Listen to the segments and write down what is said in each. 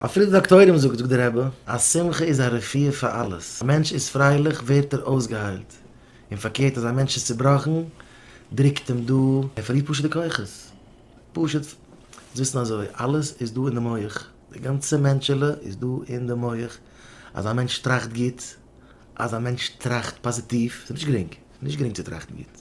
אפילו די דאקטוירים זאגט, זאגט דער רבי, אז שמחה איז א רפואה פאר אלעס, א מענטש איז פרייליך ווערט ער אויסגעהיילט, און פארקערט אז א מענטש איז צובראכן דרוקט אים דא, ער פארלירט פשוט די כוחות, פשוט זאלסט וויסן אזוי, אלעס איז דא אין די מח, די גאנצע מענטשעלע איז דא אין די מח, אז א מענטש טראכט גוט, אז א מענטש טראכט פאזיטיוו, ס'איז נישט גרינג, ס'איז נישט גרינג צו טראכטן גוט,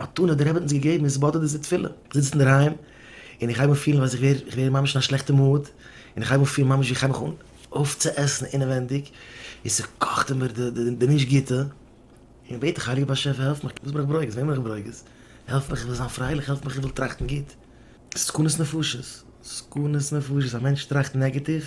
מתנה האט דער רבי האט אונז געגעבן איז בד ה דיזע תפילה, איך זיץ אינדערהיים און איך הייב אן פילן אז איך ווער ממש אין א שלעכטע מאד, און איך הייב אן פילן ממש ווי איך הייב מיך אן אויפצועסן אינעווענדיג, און ס'קאכט אין מיר די נישט גוטע, און איך בעט דיך הייליגער באשעפער העלף מיך, וואס בין איך ברוגז? וועמען בין איך ברוגז? העלף מיך איך וויל זיין פרייליך, העלף מיך איך וויל טראכטן גוט. סכנות נפשות, סכנות נפשות, א מענטש טראכט נעגעטיוו,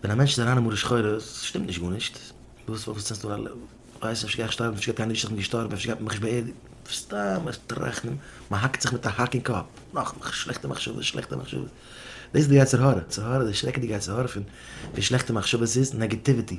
ווען א מענטש איז אריין אין מרה שחורה, ס'שטימט נישט גארנישט, וואס פארוואס צינדסטו אן א לעמפ, ווייסט נישט אפשר גיי איך שטארבן, אפשר גייט קיין איש איך בין געשטארבן, אפשר גייט מען מיך נישט באערדיגן, סתם א טראכטן, מען האקט זיך מיט א האק אין קאפ, נאך מחשבות, שלעכטע מחשבות, שלעכטע מחשבות, דאס איז די יצר הרע, יצר הרע, די שרעקעדיגע יצר הרע פון שלעכטע מחשבות איז נעגעטיוויטי.